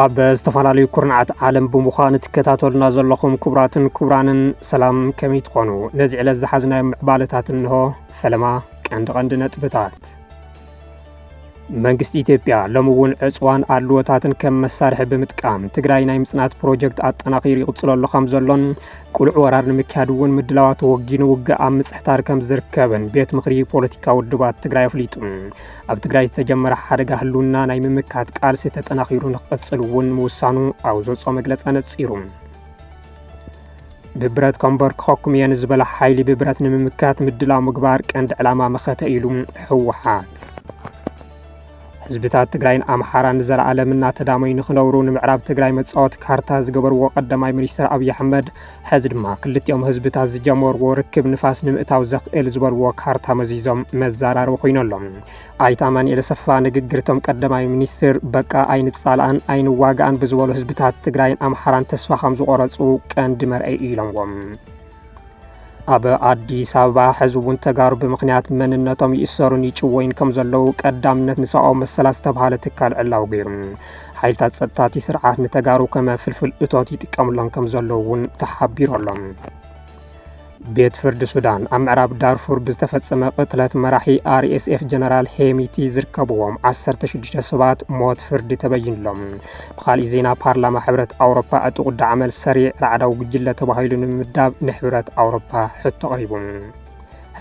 ኣብ ዝተፈላለዩ ኩርናዓት ዓለም ብምዃን ትከታተሉና ዘለኹም ክቡራትን ክቡራንን ሰላም ከመይ ትኾኑ? ነዚ ዕለት ዝሓዝናዮ ምዕባለታት እንሆ። ፈለማ ቀንዲ ቀንዲ ነጥብታት መንግስቲ ኢትዮጵያ ሎሚ እውን ዕፅዋን ኣድልዎታትን ከም መሳርሒ ብምጥቃም ትግራይ ናይ ምፅናት ፕሮጀክት ኣጠናኺሩ ይቕፅለሉ ከም ዘሎን ቁልዕ ወራር ንምክያድ እውን ምድላዋት ወጊኑ ውግእ ኣብ ምፅሕታር ከም ዝርከብን ቤት ምኽሪ ፖለቲካ ውድባት ትግራይ ኣፍሊጡ። ኣብ ትግራይ ዝተጀመረ ሓደጋ ህልውና ናይ ምምካት ቃልሲ ተጠናኺሩ ንክቕፅል እውን ምውሳኑ ኣብ ዘውፅኦ መግለፂ ኣነፂሩ። ብብረት ከምበርክኸኩም እየ ንዝበላ ሓይሊ ብብረት ንምምካት ምድላው ምግባር ቀንዲ ዕላማ መኸተ ኢሉ ህወሓት ህዝብታት ትግራይን ኣምሓራን ንዘለኣለም እናተዳመዩ ንክነብሩ ንምዕራብ ትግራይ መፃወቲ ካርታ ዝገበርዎ ቀዳማይ ሚኒስትር ኣብዪ ኣሕመድ ሕዚ ድማ ክልቲኦም ህዝብታት ዝጀመርዎ ርክብ ንፋስ ንምእታው ዘኽእል ዝበልዎ ካርታ መዚዞም መዘራረቢ ኮይኖ ኣሎ። ኣይተ ኣማኒኤል ኣሰፋ ንግግር እቶም ቀዳማይ ሚኒስትር በቃ ኣይንፃላኣን ኣይንዋጋኣን ብዝበሉ ህዝብታት ትግራይን ኣምሓራን ተስፋ ከም ዝቆረፁ ቀንዲ መርኣይ እዩ ኢሎምዎም። ኣብ ኣዲስ ኣበባ ሕዚ እውን ተጋሩ ብምኽንያት መንነቶም ይእሰሩን ይጭወዩን ከም ዘለዉ ቀዳምነት ንሰብኣዊ መሰላት ዝተብሃለ ትካል ዕላዊ ገይሩ ሓይልታት ጸጥታ እቲ ስርዓት ንተጋሩ ከመ ፍልፍል እቶት ይጥቀምሎም ከም ዘለዉ እውን ተሓቢሩ ኣሎ። ቤት ፍርዲ ሱዳን ኣብ ምዕራብ ዳርፉር ብዝተፈጸመ ቅትለት መራሒ ኣርኤስኤፍ ጀነራል ሄሚቲ ዝርከብዎም 16 ሰባት ሞት ፍርዲ ተበይንሎም። ብካልእ ዜና ፓርላማ ሕብረት ኣውሮፓ ዕጡቕ ዳዕመል ሰሪዕ ራዕዳዊ ጉጅለ ተባሂሉ ንምምዳብ ንሕብረት ኣውሮፓ ሕቶ ኣቕሪቡ።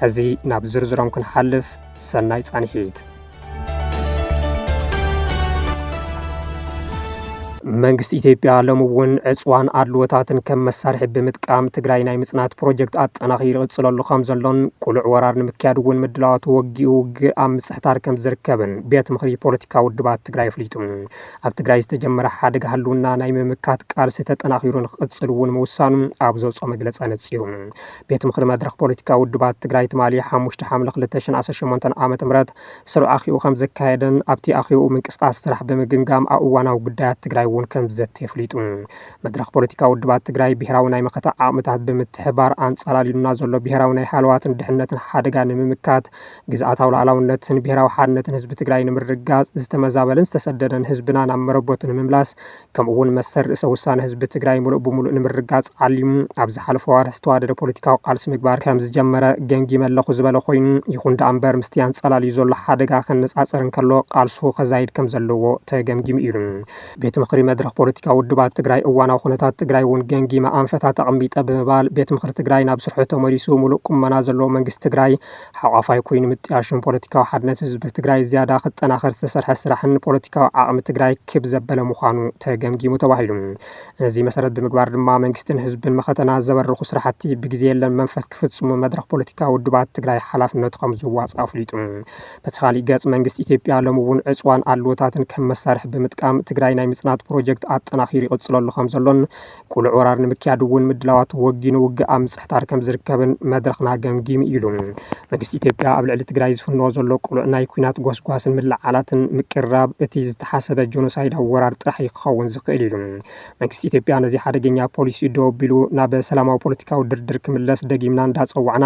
ሕዚ ናብ ዝርዝሮም ክንሓልፍ ሰናይ ፃንሒት! መንግስቲ ኢትዮጵያ ሎሚ እውን ዕፅዋን ኣድልዎታትን ከም መሳርሒ ብምጥቃም ትግራይ ናይ ምፅናት ፕሮጀክት ኣጠናኺሩ ይቕፅለሉ ከም ዘሎን ቅሉዕ ወራር ንምክያድ እውን ምድላዋቱ ወጊኡ ውግእ ኣብ ምፅሕታር ከም ዝርከብን ቤት ምኽሪ ፖለቲካ ውድባት ትግራይ ኣፍሊጡ። ኣብ ትግራይ ዝተጀመረ ሓደጋ ህልውና ናይ ምምካት ቃልሲ ተጠናኺሩ ንክቕፅል እውን ምውሳኑ ኣብ ዘውፅኦ መግለፂ ኣነፂሩ። ቤት ምኽሪ መድረኽ ፖለቲካዊ ውድባት ትግራይ ትማሊ ሓሙሽተ ሓምለ ክልተ ሽሕን ዓሰርተ ሸሞንተን ዓመተ ምህረት ስሩዕ ኣኼብኡ ከምዘካየደን ኣብቲ ኣኼብኡ ምንቅስቓስ ስራሕ ብምግምጋም ኣብ እዋናዊ ጉዳያት ትግራይ እውን ከምዝዘቲ ኣፍሊጡ። መድረኽ ፖለቲካዊ ውድባት ትግራይ ብሄራዊ ናይ መኸተ ዓቕምታት ብምትሕብባር ኣንፃላሊሉና ዘሎ ብሄራዊ ናይ ሃለዋትን ድሕንነትን ሓደጋ ንምምካት፣ ግዝኣታዊ ሉኣላውነትን ብሄራዊ ሓድነትን ህዝቢ ትግራይ ንምርግጋፅ፣ ዝተመዛበለን ዝተሰደደን ህዝብና ናብ መረበቱ ንምምላስ፣ ከምኡ'ውን መሰል ርእሰ ውሳነ ህዝቢ ትግራይ ምሉእ ብምሉእ ንምርግጋፅ ዓሊሙ ኣብ ዝሓለፉ ኣዋርሕ ዝተዋደደ ፖለቲካዊ ቃልሲ ምግባር ከምዝጀመረ ገምጊመ ኣለኹ ዝበለ ኮይኑ፣ ይኹን ደኣ እምበር ምስቲ ኣንፀላልዩ ዘሎ ሓደጋ ከነፃፅር እንከሎ ቃልሱ ከዛይድ ከምዘለዎ ተገምጊሙ ኢሉ። ቤት ምኽሪ መድረኽ ፖለቲካዊ ውድባት ትግራይ እዋናዊ ኩነታት ትግራይ እውን ገምጊመ ኣንፈታት ኣቕሚጠ ብምባል ቤት ምኽሪ ትግራይ ናብ ስርሑ ተመሊሱ ምሉእ ቁመና ዘለዎ መንግስቲ ትግራይ ሓቋፋይ ኮይኑ ምጥያሾም ፖለቲካዊ ሓድነት ህዝቢ ትግራይ ዝያዳ ክጠናኸር ዝተሰርሐ ስራሕን ፖለቲካዊ ዓቕሚ ትግራይ ክብ ዘበለ ምዃኑ ተገምጊሙ ተባሂሉ። ነዚ መሰረት ብምግባር ድማ መንግስትን ህዝብን መኸተና ዘበርኹ ስራሕቲ ብግዜ የለን መንፈስ ክፍፅሙ መድረኽ ፖለቲካዊ ውድባት ትግራይ ሓላፍነቱ ከምዝዋፅእ ኣፍሊጡ። በቲ ካሊእ ገፅ መንግስቲ ኢትዮጵያ ሎሚ እውን ዕፅዋን ኣድልዎታትን ከም መሳርሒ ብምጥቃም ትግራይ ናይ ምፅናት ፕሮጀክት ኣጠናኺሩ ይቕፅለሉ ከምዘሎን ቁሉዕ ወራር ንምክያድ እውን ምድላዋት ወጊኑ ውግእ ኣብ ምጽሕታር ከም ዝርከብን መድረኽና ገምጊሙ ኢሉ። መንግስቲ ኢትዮጵያ ኣብ ልዕሊ ትግራይ ዝፍንዎ ዘሎ ቁሉዕ ናይ ኩናት ጎስጓስን ምልዕዓላትን ምቅርራብ እቲ ዝተሓሰበ ጆኖሳይዳዊ ወራር ጥራሕ እዩ ክኸውን ዝኽእል ኢሉ። መንግስቲ ኢትዮጵያ ነዚ ሓደገኛ ፖሊሲኡ ደው ኣቢሉ ናብ ሰላማዊ ፖለቲካዊ ድርድር ክምለስ ደጊምና እንዳጸዋዕና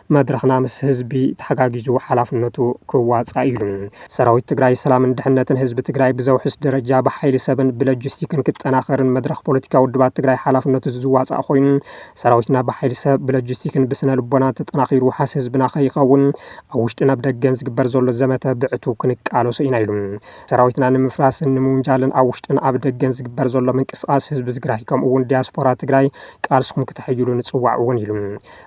መድረኽና ምስ ህዝቢ ተሓጋጊዙ ሓላፍነቱ ክዋፃእ እዩ። ሰራዊት ትግራይ ሰላምን ድሕነትን ህዝቢ ትግራይ ብዘውሕስ ደረጃ ብሓይሊ ሰብን ብለጅስቲክን ክጠናኸርን መድረኽ ፖለቲካ ውድባት ትግራይ ሓላፍነቱ ዝዋፃእ ኮይኑ ሰራዊትና ብሓይሊ ሰብ፣ ብለጅስቲክን ብስነ ልቦናን ተጠናኺሩ ውሓስ ህዝብና ከይኸውን ኣብ ውሽጥን ኣብ ደገን ዝግበር ዘሎ ዘመተ ብዕቱብ ክንቃለሶ ኢና ኢሉ። ሰራዊትና ንምፍራስን ንምውንጃልን ኣብ ውሽጥን ኣብ ደገን ዝግበር ዘሎ ምንቅስቓስ ህዝቢ ትግራይ ከምኡ እውን ዲያስፖራ ትግራይ ቃልስኹም ክተሐይሉ ንፅዋዕ እውን ኢሉ።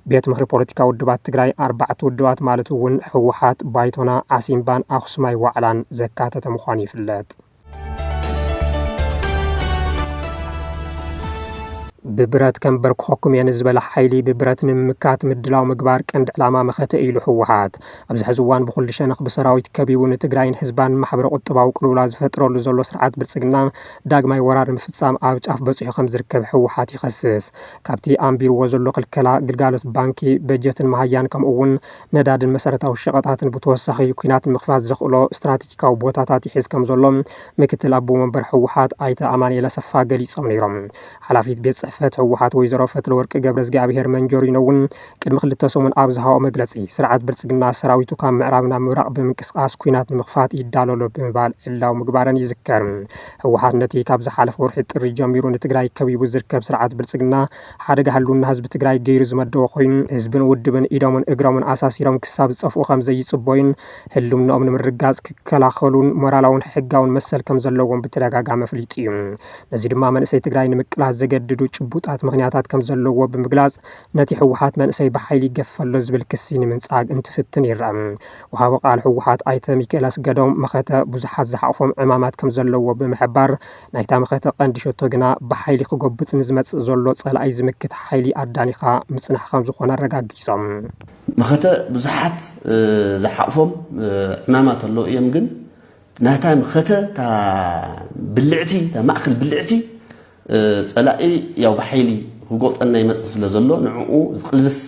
ቤት ምኽሪ ፖለቲካ ውድባት ትግራይ ኣርባዕተ ውድባት ማለት እውን ህወሓት፣ ባይቶና፣ ዓሲምባን ኣኽሱማይ ዋዕላን ዘካተተ ምዃኑ ይፍለጥ። ብብረት ከምበርክኸኩም እየ ንዝበለ ሓይሊ ብብረት ንምምካት ምድላው ምግባር ቀንዲ ዕላማ መኸተ እዩ ኢሉ ህወሓት ኣብዚ ሕዚ እዋን ብኩሉ ሸነኽ ብሰራዊት ከቢቡ ንትግራይን ህዝባን ማሕበረ ቁጠባዊ ቅልውላ ዝፈጥረሉ ዘሎ ስርዓት ብልፅግና ዳግማይ ወራር ንምፍፃም ኣብ ጫፍ በፂሑ ከም ዝርከብ ህወሓት ይኸስስ። ካብቲ ኣንቢርዎ ዘሎ ክልከላ ግልጋሎት ባንኪ፣ በጀትን መሃያን ከምኡ'ውን ነዳድን መሰረታዊ ሸቐጣትን ብተወሳኺ ኲናት ንምኽፋት ዘኽእሎ ስትራቴጂካዊ ቦታታት ይሕዝ ከምዘሎ ምክትል ኣቦ መንበር ህወሓት ኣይተ ኣማኑኤል ኣሰፋ ገሊፆም ነይሮም። ሓላፊት ቤት ፅሕፈት ህወሓት ወይዘሮ ፈትለወርቅ ገብረእዝግኣብሄር መንጆሪኖ እውን ቅድሚ ክልተ ሰሙን ኣብ ዝሃብኦ መግለፂ ስርዓት ብልፅግና ሰራዊቱ ካብ ምዕራብ ናብ ምብራቕ ብምንቅስቓስ ኲናት ንምኽፋት ይዳሎ ኣሎ ብምባል ዕላዊ ምግባረን ይዝከር። ህወሓት ነቲ ካብ ዝሓለፈ ወርሒ ጥሪ ጀሚሩ ንትግራይ ከቢቡ ዝርከብ ስርዓት ብልፅግና ሓደጋ ህልውና ህዝቢ ትግራይ ገይሩ ዝመደቦ ኮይኑ ህዝብን ውድብን ኢዶምን እግሮምን ኣሳሲሮም ክሳብ ዝጠፍኡ ከምዘይፅበዩን ህልውንኦም ንምርግጋፅ ክከላኸሉን ሞራላውን ሕጋውን መሰል ከምዘለዎም ብተደጋጋሚ ኣፍሊጡ እዩ። ነዚ ድማ መንእሰይ ትግራይ ንምቅላስ ዘገድዱ ጭቡጣት ምኽንያታት ከምዘለዎ ብምግላፅ ነቲ ህወሓት መንእሰይ ብሓይሊ ይገፍፍ ኣሎ ዝብል ክሲ ንምንፃግ እንትፍትን ይረኣ። ወሃቢ ቃል ህወሓት ኣይተ ሚኪኤል ኣስገዶም መኸተ ብዙሓት ዝሓቑፎም ዕማማት ከምዘለዉዎ ብምሕባር ናይታ መኸተ ቀንዲ ሸቶ ግና ብሓይሊ ክጎብጥ ንዝመፅእ ዘሎ ፀላኢ ዝምክት ሓይሊ ኣዳኒኻ ምፅናሕ ከምዝኾነ ኣረጋጊፆም። መኸተ ብዙሓት ዝሓቑፎም ዕማማት ኣለዉ እዮም ግን ናይታ መኸተ እታ ብልዕቲ እታ ማእኸል ብልዕቲ ጸላኢ ያው ብሓይሊ ክጎጠና ይመጽእ ስለ ዘሎ ንዕኡ ዝቕልብስ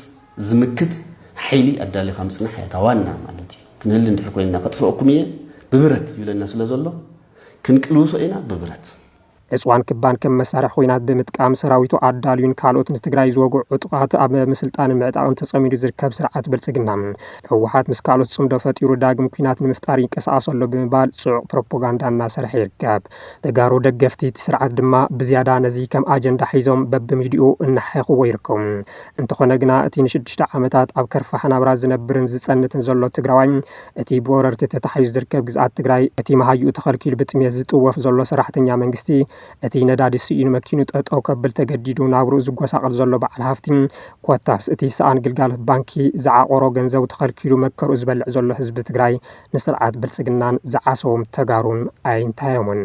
ዝምክት ሓይሊ ኣዳሊኻ ምጽናሕ እያ እታ ዋና ማለት እዩ። ክንህሊ እንድሕር ኮይንና ከጥፍኣኩም እየ ብብረት ይብለና ስለ ዘሎ ክንቅልውሶ ኢና ብብረት። ዕፅዋን ክባን ከም መሳርሒ ኹናት ብምጥቃም ሰራዊቱ ኣዳልዩን ካልኦት ንትግራይ ዝወግዑ ዕጡቓት ኣብ ምስልጣንን ምዕጣቕን ተፀሚዱ ዝርከብ ስርዓት ብልፅግና ህወሓት ምስ ካልኦት ፅምዶ ፈጢሩ ዳግም ኲናት ንምፍጣር ይንቀሳቐስ ኣሎ ብምባል ፅዑቕ ፕሮፓጋንዳ እናሰርሐ ይርከብ። ተጋሩ ደገፍቲ እቲ ስርዓት ድማ ብዝያዳ ነዚ ከም ኣጀንዳ ሒዞም በብሚድይኡ እናሓየኹዎ ይርከቡ። እንተኾነ ግና እቲ ንሽዱሽተ ዓመታት ኣብ ከርፋሕ ናብራ ዝነብርን ዝፀንትን ዘሎ ትግራዋይ፣ እቲ ብወረርቲ ተታሒዙ ዝርከብ ግዝኣት ትግራይ፣ እቲ መሃይኡ ተኸልኪሉ ብጥምየት ዝጥወፍ ዘሎ ሰራሕተኛ መንግስቲ፣ እቲ ነዳዲ ስኢኑ መኪኑ ጠጠው ከብል ተገዲዱ ናብርኡ ዝጎሳቐል ዘሎ በዓል ሃፍቲ፣ ኮታስ እቲ ሰኣን ግልጋሎት ባንኪ ዝዓቖሮ ገንዘቡ ተኸልኪሉ መከርኡ ዝበልዕ ዘሎ ህዝቢ ትግራይ ንስርዓት ብልፅግናን ዝዓሰዎም ተጋሩን ኣይንታዮምን።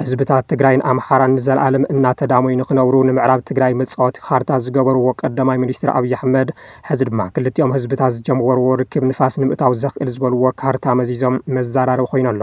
ህዝብታት ትግራይን ኣምሓራን ንዘለኣለም እናተዳመዩ ንክነብሩ ንምዕራብ ትግራይ መፃወቲ ካርታ ዝገበርዎ ቀዳማይ ሚኒስትር ኣብዪ ኣሕመድ ሕዚ ድማ ክልቲኦም ህዝብታት ዝጀመርዎ ርክብ ንፋስ ንምእታው ዘኽእል ዝበልዎ ካርታ መዚዞም መዘራረቢ ኮይኑ ኣሎ።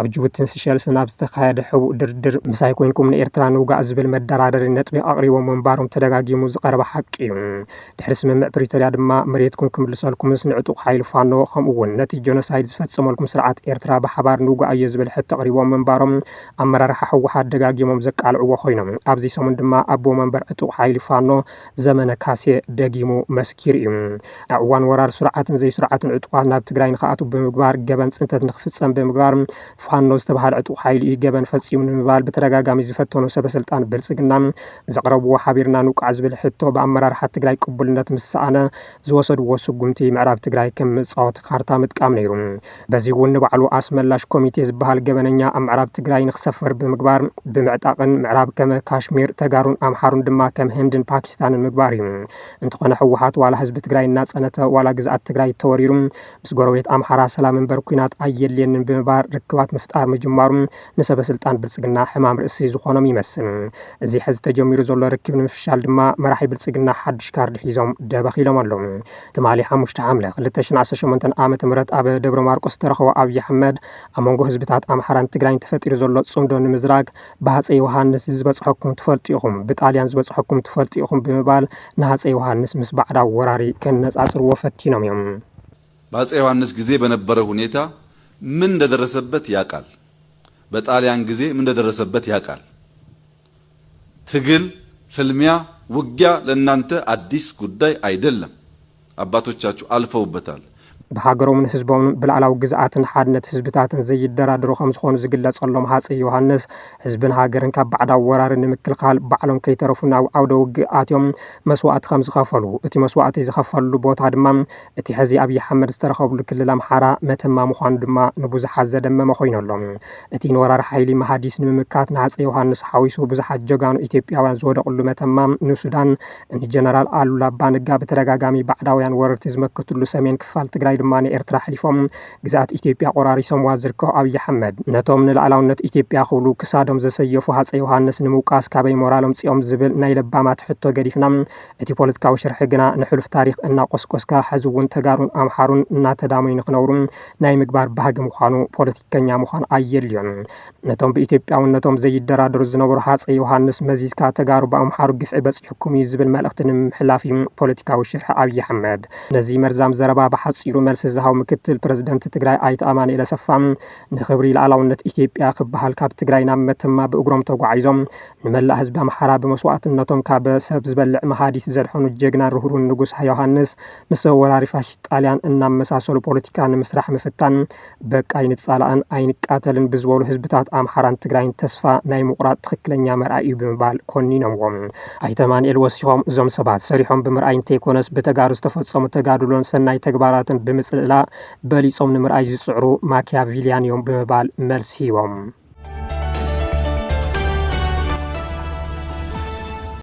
ኣብ ጅቡቲን ሲሸልስን ኣብ ዝተኻየደ ሕቡእ ድርድር ምሳይ ኮይንኩም ንኤርትራ ንውጋእ ዝብል መደራደሪ ነጥቢ ኣቕሪቦም ምንባሮም ተደጋጊሙ ዝቐረበ ሓቂ እዩ። ድሕሪ ስምምዕ ፕሪቶርያ ድማ መሬትኩም ክምልሰልኩምስ ንዕጡቕ ሓይሊ ፋኖ ከምኡ'ውን ነቲ ጆኖሳይድ ዝፈጸመልኩም ስርዓት ኤርትራ ብሓባር ንውጋኣዮ ዝብል ሕቶ ኣቕሪቦም ምንባሮም ኣመራርሓ ህወሓት ደጋጊሞም ዘቃልዕዎ ኮይኖም ኣብዚ ሰሙን ድማ ኣቦ መንበር ዕጡቕ ሓይሊ ፋኖ ዘመነ ካሴ ደጊሙ መስኪሩ እዩ። ኣብ እዋን ወራር ስሩዓትን ዘይስሩዓትን ዕጡቓት ናብ ትግራይ ንክኣትው ብምግባር ገበን ፅንተት ንክፍፀም ብምግባር ፋኖ ዝተብሃለ ዕጡቕ ሓይሊ እዩ ገበን ፈፂሙ ንምባል ብተደጋጋሚ ዝፈተኑ ሰበስልጣን ብልፅግና ዘቕረብዎ ሓቢርና ንውቃዕ ዝብል ሕቶ ብኣመራርሓ ትግራይ ቅቡልነት ምስ ሰኣነ ዝወሰድዎ ስጉምቲ ምዕራብ ትግራይ ከም መፃወቲ ካርታ ምጥቃም ነይሩ። በዚ እውን ንባዕሉ ኣስመላሽ ኮሚቴ ዝበሃል ገበነኛ ኣብ ምዕራብ ትግራይ ንክሰፍር ብምግባር ብምዕጣቕን ምዕራብ ከመ ካሽሚር ተጋሩን ኣምሓሩን ድማ ከም ህንድን ፓኪስታንን ምግባር እዩ። እንተኾነ ህወሓት ዋላ ህዝቢ ትግራይ እናፀነተ ዋላ ግዝኣት ትግራይ ተወሪሩ ምስ ጎረቤት ኣምሓራ ሰላም እምበር ኩናት ኣየድልየንን ብምባር ርክባት ምፍጣር ምጅማሩ ንሰበ ስልጣን ብልፅግና ሕማም ርእሲ ዝኾኖም ይመስል። እዚ ሕዚ ተጀሚሩ ዘሎ ርክብ ንምፍሻል ድማ መራሒ ብልፅግና ሓዱሽ ካርድ ሒዞም ደበኽ ኢሎም ኣለው። ትማሊ ሓሙሽተ ሓምለ ክልተ ሽሕን ዓሰርተ ሸሞንተን ዓመተ ምህረት ኣብ ደብረማርቆስ ዝተረኸቦ ኣብዪ ኣሕመድ ኣብ መንጎ ህዝብታት ኣምሓራን ትግራይን ተፈጢሩ ዘሎ ጽምዶ ንምዝራግ ብሃፀይ ዮሃንስ ዝበጽሐኩም ትፈልጡ ኢኹም፣ ብጣልያን ዝበጽሐኩም ትፈልጡ ኢኹም ብምባል ንሃፀይ ዮሃንስ ምስ ባዕዳዊ ወራሪ ከነጻጽርዎ ፈቲኖም እዮም። በአፄ ዮሐንስ ጊዜ በነበረ ሁኔታ ምን እንደደረሰበት ያቃል በጣልያን ጊዜ ምን እንደደረሰበት ያቃል ትግል፣ ፍልሚያ፣ ውጊያ ለናንተ ኣዲስ ጉዳይ ኣይደለም። ኣባቶቻቹ ኣልፈውበታል። ብሃገሮምን ህዝቦምን ብላእላዊ ግዝኣትን ሓድነት ህዝብታትን ዘይደራደሩ ከምዝኾኑ ዝግለፀሎም ሃፀይ ዮሃንስ ህዝብን ሃገርን ካብ ባዕዳዊ ወራሪ ንምክልኻል ባዕሎም ከይተረፉ ናብ ዓውደ ውግእ ኣትዮም መስዋእቲ ከምዝኸፈሉ እቲ መስዋእቲ ዝኸፈልሉ ቦታ ድማ እቲ ሕዚ ኣብዪ ኣሕመድ ዝተረኸብሉ ክልል ኣምሓራ መተማ ምዃኑ ድማ ንብዙሓት ዘደመመ ኮይኑ ኣሎ። እቲ ንወራሪ ሓይሊ መሃዲስ ንምምካት ንሃፀይ ዮሃንስ ሓዊሱ ብዙሓት ጀጋኑ ኢትዮጵያውያን ዝወደቕሉ መተማ ንሱዳን ንጀነራል ኣሉላ ኣባ ነጋ ብተደጋጋሚ ባዕዳውያን ወረርቲ ዝመከትሉ ሰሜን ክፋል ትግራይ ድማ ንኤርትራ ኣሕሊፎም ግዝኣት ኢትዮጵያ ቆራሪሶምዋ ዝርከቡ ኣብዪ ኣሕመድ ነቶም ንልኣላውነት ኢትዮጵያ ክብሉ ክሳዶም ዘሰየፉ ሃፀይ ዮሃንስ ንምውቃስ ካበይ ሞራል ኣምፂኦም ዝብል ናይ ለባማት ሕቶ ገዲፍና እቲ ፖለቲካዊ ሽርሒ ግና ንሕሉፍ ታሪኽ እናቆስቆስካ ሐዚ እውን ተጋሩን ኣምሓሩን እናተዳመዩ ንክነብሩ ናይ ምግባር ባህጊ ምዃኑ ፖለቲከኛ ምዃን ኣየድልዮን። ነቶም ብኢትዮጵያውነቶም ዘይደራደሩ ዝነበሩ ሃፀይ ዮሃንስ መዚዝካ ተጋሩ ብኣምሓሩ ግፍዒ በፂሑኩም እዩ ዝብል መልእኽቲ ንምምሕላፍ እዩ ፖለቲካዊ ሽርሒ ኣብዪ ኣሕመድ። ነዚ መርዛም ዘረባ ብሓፂሩ መልሲ ዝሃቡ ምክትል ፕረዚደንት ትግራይ ኣይተ ኣማኑኤል ኣሰፋ ንኽብሪ ልኣላውነት ኢትዮጵያ ክበሃል ካብ ትግራይ ናብ መተማ ብእግሮም ተጓዒዞም ንመላእ ህዝቢ ኣምሓራ ብመስዋእትነቶም ካብ ሰብ ዝበልዕ መሃዲት ዘድሐኑ ጀግናን ርህሩን ንጉስ ዮሃንስ ምስ ወራሪ ፋሽስት ጣልያን እናመሳሰሉ ፖለቲካ ንምስራሕ ምፍታን በቃ ኣይንፃላእን ኣይንቃተልን ብዝበሉ ህዝብታት ኣምሓራን ትግራይን ተስፋ ናይ ምቑራፅ ትኽክለኛ መርኣይ እዩ ብምባል ኮኒኖምዎም። ኣይተ ኣማንኤል ወሲኾም እዞም ሰባት ሰሪሖም ብምርኣይ እንተይኮነስ ብተጋሩ ዝተፈፀሙ ተጋድሎን ሰናይ ተግባራትን ብምፅልላእ በሊፆም ንምርኣይ ዝፅዕሩ ማኪያቪልያን እዮም ብምባል መልሲ ሂቦም።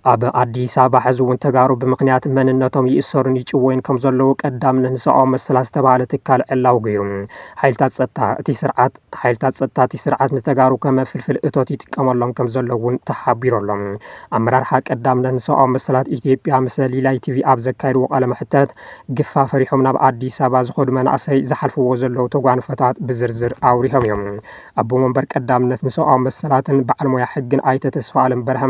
ኣብ ኣዲስ ኣበባ ሕዚ እውን ተጋሩ ብምክንያት መንነቶም ይእሰሩን ይጭወዩን ከም ዘለዉ ቀዳምነት ንሰብኣዊ መሰላት ዝተባሃለ ትካል ዕላዊ ገይሩ ሓይልታት ፀጥታ እቲ ስርዓት ሓይልታት ፀጥታ እቲ ስርዓት ንተጋሩ ከመ ፍልፍል እቶት ይጥቀመሎም ከም ዘሎ እውን ተሓቢሩ ኣሎ ኣመራርሓ ቀዳምነት ንሰብኣዊ መሰላት ኢትዮጵያ ምስ ሊላይ ቲቪ ኣብ ዘካየድዎ ቃለ መሕተት ግፋ ፈሪሖም ናብ ኣዲስ ኣበባ ዝኸዱ መናእሰይ ዝሓልፍዎ ዘለዉ ተጓንፎታት ብዝርዝር ኣውሪሆም እዮም ኣቦ መንበር ቀዳምነት ንሰብኣዊ መሰላትን በዓል ሞያ ሕግን ኣይተ ተስፋኣለም በርሀ፣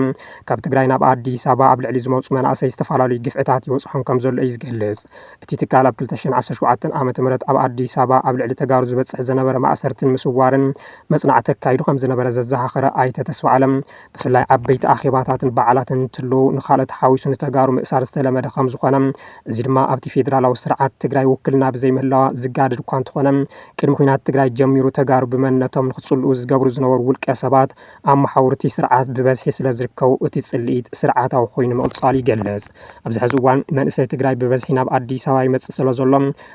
ካብ ትግራይ ናብ ኣዲስ ኣበባ ኣብ ልዕሊ ዝመፁ መናእሰይ ዝተፈላለዩ ግፍዕታት ይበፅሖም ከምዘሎ እዩ ዝገልፅ። እቲ ትካል ኣብ ክልተ ሽሕን ዓሰርተ ሸውዓተን ዓመተ ምህረት ኣብ ኣዲስ ኣበባ ኣብ ልዕሊ ተጋሩ ዝበፅሕ ዘነበረ ማእሰርትን ምስዋርን መፅናዕቲ ኣካይዱ ከምዝነበረ ዘዘኻኸረ ኣይተ ተስፋኣለም፣ ብፍላይ ዓበይቲ ኣኼባታትን በዓላትን እንትህልው ንካልኦት ሓዊሱ ንተጋሩ ምእሳር ዝተለመደ ከምዝኾነ እዚ ድማ ኣብቲ ፌዴራላዊ ስርዓት ትግራይ ውክልና ብዘይምህላዋ ዝጋደድ እኳ እንተኾነ ቅድሚ ኩናት ትግራይ ጀሚሩ ተጋሩ ብመንነቶም ንክፅልኡ ዝገብሩ ዝነበሩ ውልቀ ሰባት ኣብ መሓውር እቲ ስርዓት ብበዝሒ ስለዝርከቡ እቲ ፅልኢት ስርዓታዊ ኮይኑ ምቕፃሉ ይገልፅ። ኣብዚ ሐዚ እዋን መንእሰይ ትግራይ ብበዝሒ ናብ ኣዲስ ኣበባ ይመፅእ ስለዘሎ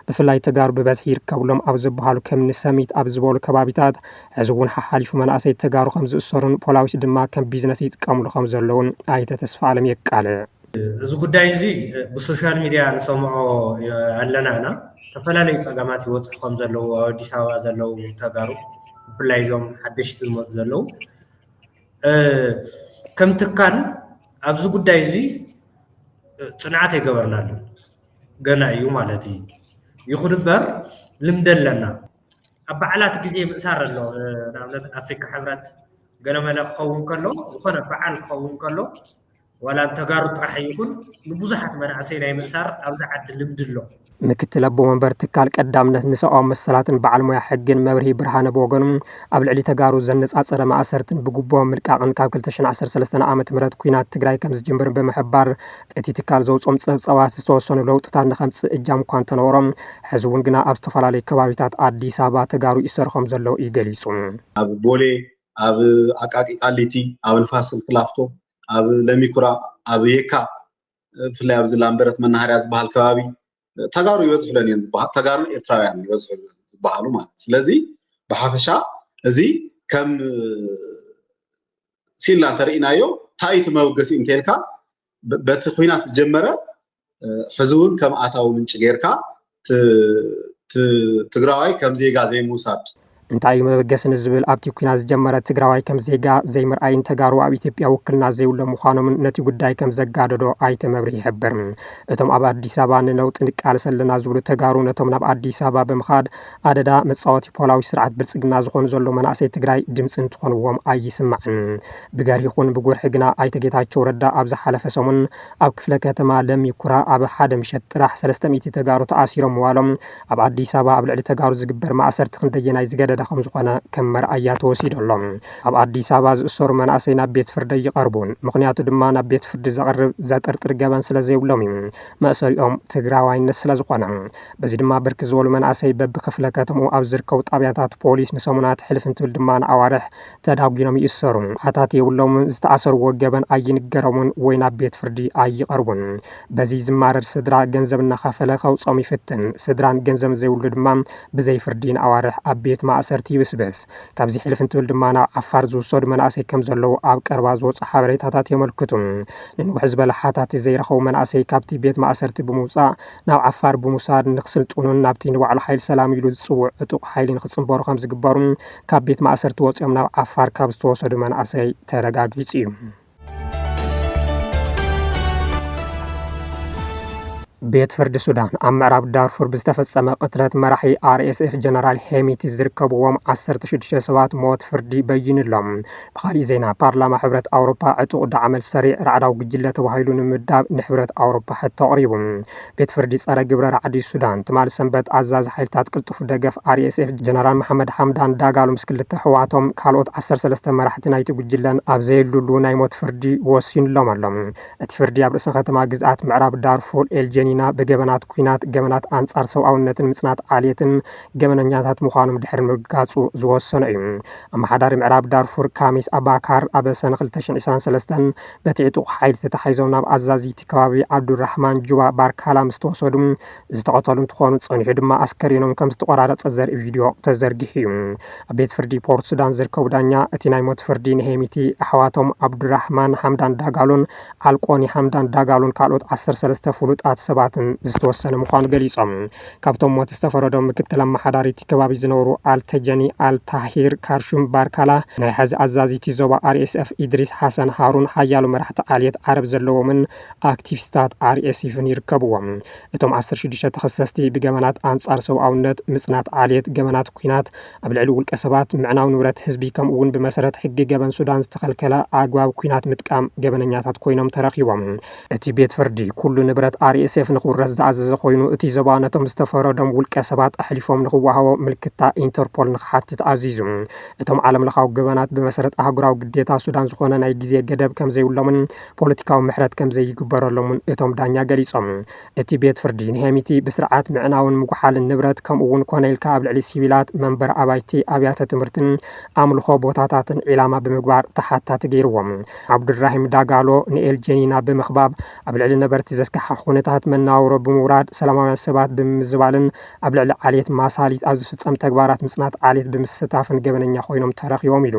ብፍላይ ተጋሩ ብበዝሒ ይርከብሎም ኣብ ዝበሃሉ ከምኒ ሰሚት ኣብ ዝበሉ ከባቢታት ሕዚ እውን ሓሓሊፉ መናእሰይ ተጋሩ ከም ዝእሰሩን ፖላዊስ ድማ ከም ቢዝነስ ይጥቀምሉ ከም ዘለዉን ኣይተ ተስፋኣለም የቃልዕ። እዚ ጉዳይ እዚ ብሶሻል ሚድያ ንሰምዖ ኣለና እና ዝተፈላለዩ ፀገማት ይበፅሑ ከም ዘለዉ ኣብ ኣዲስ ኣበባ ዘለዉ ተጋሩ ብፍላይ እዞም ሓደሽቲ ዝመፁ ዘለዉ ከም ትካል ኣብዚ ጉዳይ እዚ ፅንዓት ኣይገበርናሉን ገና እዩ ማለት እዩ ይኹን እበር ልምዲ ኣለና ኣብ በዓላት ግዜ ምእሳር ኣሎ ንኣብነት ኣፍሪካ ሕብረት ገለመለ ክኸውን ከሎ ዝኾነ በዓል ክኸውን ከሎ ዋላ ንተጋሩ ጥራሕ ይኹን ንብዙሓት መናእሰይ ናይ ምእሳር ኣብዚ ዓዲ ልምዲ ኣሎ ምክትል ኣቦ መንበር ትካል ቀዳምነት ንሰብኣዊ መሰላትን በዓል ሞያ ሕግን መብርሂ ብርሃነ ብወገኑ ኣብ ልዕሊ ተጋሩ ዘነጻጸረ ማእሰርትን ብጉቦ ምልቃቕን ካብ 2013 ዓ.ም ኲናት ትግራይ ከም ዝጅምር ብምሕባር እቲ ትካል ዘውፅኦም ፀብፃባት ዝተወሰኑ ለውጥታት ንከምፅእ እጃም እኳ እንተነበሮ ሕዚ እውን ግና ኣብ ዝተፈላለዩ ከባቢታት ኣዲስ ኣበባ ተጋሩ ይእሰሩ ከምዘለዉ እዩ ገሊፁ። ኣብ ቦሌ፣ ኣብ ኣቃቂ ቃሊቲ፣ ኣብ ንፋስ ስልክ ላፍቶ፣ ኣብ ለሚኩራ፣ ኣብ የካ ብፍላይ ኣብዚ ላምበረት መናሃርያ ዝበሃል ከባቢ ተጋሩ ይበዝሑለን እየን ዝበሃ ተጋሩን ኤርትራውያን ይበዝሑለን ዝበሃሉ ማለት እዩ። ስለዚ ብሓፈሻ እዚ ከም ሲላ እንተርኢናዮ እንታይ እቲ መበገሲ እንተልካ በቲ ኩናት ዝጀመረ ሕዚ እውን ከም ኣታዊ ምንጪ ጌርካ ትግራዋይ ከም ዜጋ ዘይምውሳድ እንታይ እዩ መበገሲ ንዝብል ኣብቲ ኩናት ዝጀመረ ትግራዋይ ከም ዜጋ ዘይምርኣይን ተጋሩ ኣብ ኢትዮጵያ ውክልና ዘይብሎም ምዃኖምን ነቲ ጉዳይ ከም ዘጋደዶ ኣይተ መብርሂ ይሕብር። እቶም ኣብ ኣዲስ ኣበባ ንነውጢ ንቃለስ ኣለና ዝብሉ ተጋሩ ነቶም ናብ ኣዲስ ኣበባ ብምኻድ ኣደዳ መፃወቲ ፖላዊ ስርዓት ብልፅግና ዝኾኑ ዘለዉ መናእሰይ ትግራይ ድምፂ እንትኾንዎም ኣይስማዕን። ብገርሂ ይኹን ብጉርሒ ግና ኣይተ ጌታቸው ረዳ ኣብ ዝሓለፈ ሰሙን ኣብ ክፍለ ከተማ ለሚ ኩራ ኣብ ሓደ ምሸት ጥራሕ ሰለስተ ሚእቲ ተጋሩ ተኣሲሮም ምዋሎም ኣብ ኣዲስ ኣበባ ኣብ ልዕሊ ተጋሩ ዝግበር ማእሰርቲ ክንደየናይ ዝገደደ ከምዝኾነ ከም መርኣያ ተወሲዱ ኣሎ። ኣብ ኣዲስ ኣበባ ዝእሰሩ መናእሰይ ናብ ቤት ፍርዲ ኣይቐርቡን። ምኽንያቱ ድማ ናብ ቤት ፍርዲ ዘቕርብ፣ ዘጥርጥር ገበን ስለዘይብሎም እዩ። መእሰሪኦም ትግራዋይነት ስለዝኾነ። በዚ ድማ ብርክት ዝበሉ መናእሰይ በቢ ክፍለ ከተምኡ ኣብ ዝርከቡ ጣብያታት ፖሊስ ንሰሙናት ሕልፍ እንትብል ድማ ንኣዋርሕ ተዳጒኖም ይእሰሩ። ኣታት የብሎምን፣ ዝተኣሰርዎ ገበን ኣይንገሮምን ወይ ናብ ቤት ፍርዲ ኣይቐርቡን። በዚ ዝማረር ስድራ ገንዘብ እናኸፈለ ከውጽኦም ይፍትን። ስድራን ገንዘብን ዘይብሉ ድማ ብዘይ ፍርዲ ንኣዋርሕ ኣብ ቤት ማእሰርቲ ይብስብስ። ካብዚ ሕልፍ እንትብል ድማ ናብ ዓፋር ዝውሰዱ መናእሰይ ከም ዘለዉ ኣብ ቀረባ ዝወጹ ሓበሬታታት የመልክቱ። ንንውሕ ዝበለ ሓታቲ ዘይረኸቡ መናእሰይ ካብቲ ቤት ማእሰርቲ ብምውጻእ ናብ ዓፋር ብምውሳድ ንክስልጥኑን ናብቲ ንባዕሉ ሓይሊ ሰላም ኢሉ ዝጽውዕ ዕጡቕ ሓይሊ ንክጽንበሩ ከም ዝግበሩ ካብ ቤት ማእሰርቲ ወፂኦም ናብ ዓፋር ካብ ዝተወሰዱ መናእሰይ ተረጋጊፁ እዩ። ቤት ፍርዲ ሱዳን ኣብ ምዕራብ ዳርፉር ብዝተፈጸመ ቅትለት መራሒ ኣርኤስኤፍ ጀነራል ሄሚቲ ዝርከብዎም 16 ሰባት ሞት ፍርዲ በይኑሎም። ብካሊእ ዜና ፓርላማ ሕብረት ኣውሮፓ ዕጡቕ ዳዕመል ሰሪዕ ራዕዳዊ ጉጅለ ተባሂሉ ንምምዳብ ንሕብረት ኣውሮፓ ሕቶ ኣቕሪቡ። ቤት ፍርዲ ጸረ ግብረ ራዕዲ ሱዳን ትማል ሰንበት ኣዛዚ ሓይልታት ቅልጡፍ ደገፍ RSF ጀነራል መሓመድ ሓምዳን ዳጋሎ ምስ ክልተ ኣሕዋቶም ካልኦት ዓሰርተ ሰለስተ መራሕቲ ናይቲ ጉጅለን ኣብ ዘየሉሉ ናይ ሞት ፍርዲ ወሲንሎም ኣሎ። እቲ ፍርዲ ኣብ ርእሰ ከተማ ግዝኣት ምዕራብ ዳርፉር ኤል ጀኒና ብገበናት ኲናት፣ ገበናት ኣንጻር ሰብኣውነትን ምጽናት ዓሌትን ገበነኛታት ምዃኖም ድሕሪ ምርግጋጹ ዝወሰኖ እዩ። ኣመሓዳሪ ምዕራብ ዳርፉር ካሚስ ኣባካር ኣብ ሰነ ክልተ ሽሕን ዕስራን ሰለስተን በቲ ዕጡቕ ሓይሊ ተታሒዞም ናብ ኣዛዚ እቲ ከባቢ ዓብዱራሕማን ጁባ ባርካላ ምስ ተወሰዱ ዝተቐተሉ እንትኾኑ ፀኒሑ ድማ ኣስከሬኖም ከም ዝተቖራረፀ ዘርኢ ቪድዮ ተዘርጊሑ እዩ። ኣብ ቤት ፍርዲ ፖርት ሱዳን ዝርከቡ ዳኛ እቲ ናይ ሞት ፍርዲ ንሄሚቲ፣ ኣሕዋቶም ዓብዱራሕማን ሓምዳን ዳጋሎን ዓልቆኒ ሓምዳን ዳጋሎን ካልኦት ዓሰርተ ሰለስተ ፍሉጣት ሰባትን ዝተወሰነ ምዃኑ ገሊፆም። ካብቶም ሞት ዝተፈረዶም ምክትል ኣመሓዳሪ እቲ ከባቢ ዝነበሩ ኣልተጀኒ ኣልታሂር ካርሹም ባርካላ፣ ናይ ሐዚ ኣዛዚ እቲ ዞባ ኣርኤስኤፍ ኢድሪስ ሓሰን ሃሩን ሓያሎ መራሕቲ ዓልየት ዓረብ ዘለዎምን ኣክቲቪስታት ኣርኤስይፍን ይርከብዎም። እቶም ዓሰርተ ሽዱሽተ ተኸሰስቲ ብገበናት ኣንፃር ሰብኣውነት፣ ምፅናት ዓልየት፣ ገበናት ኲናት፣ ኣብ ልዕሊ ውልቀ ሰባት፣ ምዕናው ንብረት ህዝቢ ከምኡ እውን ብመሰረት ሕጊ ገበን ሱዳን ዝተኸልከለ ኣግባብ ኲናት ምጥቃም ገበነኛታት ኮይኖም ተረኺቦም። እቲ ቤት ፍርዲ፣ ኩሉ ንብረት RSF ንኽውረስ ዝኣዘዘ ኮይኑ፣ እቲ ዞባ ነቶም ዝተፈረዶም ውልቀ ሰባት ኣሕሊፎም ንኽወሃቦ ምልክታ ኢንተርፖል ንኽሓትት ኣዚዙ። እቶም ዓለምለኻዊ ገበናት ብመሰረት ኣህጉራዊ ግዴታ ሱዳን ዝኾነ ናይ ግዜ ገደብ ከምዘይብሎምን ፖለቲካዊ ምሕረት ከምዘይግበረሎምን እቶም ዳኛ ገሊጾም። እቲ ቤት ፍርዲ ንሄሚቲ ብስርዓት ምዕናውን ምጉሓልን ንብረት ከምኡ'ውን ኮነ ኢልካ ኣብ ልዕሊ ሲቪላት፣ መንበሪ ኣባይቲ፣ ኣብያተ ትምህርትን ኣምልኾ ቦታታትን ዒላማ ብምግባር ተሓታቲ ገይርዎም። ዓብዱልራሂም ዳጋሎ ንኤል ጀኒና ብምኽባብ ኣብ ልዕሊ ነበርቲ ዘስካሕኽሕ ኩነታት መነባብሮ ብምውራድ ሰላማውያን ሰባት ብምምዝባልን ኣብ ልዕሊ ዓሌት ማሳሊት ኣብ ዝፍጸም ተግባራት ምጽናት ዓሌት ብምስታፍን ገበነኛ ኮይኖም ተረኺቦም ኢሉ።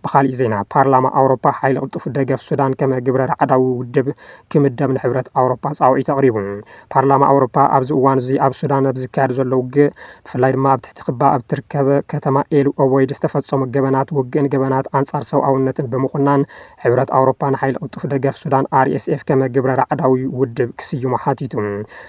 ብኻሊእ ዜና ፓርላማ ኣውሮፓ ሓይሊ ቅልጡፍ ደገፍ ሱዳን ከመ ግብረ ራዕዳዊ ውድብ ክምደብ ንሕብረት ኣውሮፓ ጻውዒት ኣቕሪቡ። ፓርላማ ኣውሮፓ ኣብዚ እዋን'ዚ ኣብ ሱዳን ኣብ ዝካየድ ዘሎ ውግእ ብፍላይ ድማ ኣብ ትሕቲ ክባ ኣብ እትርከብ ከተማ ኤል ኦበይድ ዝተፈጸሙ ገበናት ውግእን ገበናት ኣንጻር ሰብኣውነትን ብምኹናን ሕብረት ኣውሮፓ ንሓይሊ ቅልጡፍ ደገፍ ሱዳን RSF ከመ ግብረ ራዕዳዊ ውድብ ክስይሞ ሓቲቱ።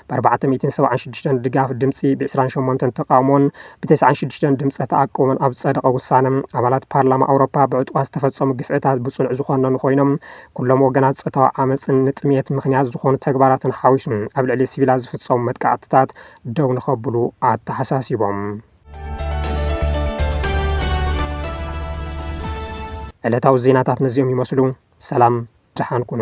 ብኣርባዕተ ሚእትን ሰብዓን ሽዱሽተን ድጋፍ ድምጺ፣ ብዕስራን ሸሞንተን ተቓውሞን ብተስዓን ሽዱሽተን ድምጸ ተኣቅቦን ኣብ ዝጸደቐ ውሳነ፣ ኣባላት ፓርላማ ኣውሮፓ ብዕጡቓት ዝተፈጸሙ ግፍዕታት ብጽኑዕ ዝኾነኑ ኮይኖም፣ ኩሎም ወገናት ፆታዊ ዓመፅን ንጥምየት ምኽንያት ዝኾኑ ተግባራትን ሓዊሱ ኣብ ልዕሊ ሲቪላት ዝፍፀሙ መጥቃዕትታት ደው ንኸብሉ ኣተሓሳሲቦም። ዕለታዊ ዜናታት ነዚኦም ይመስሉ። ሰላም ድሓን ኩኑ።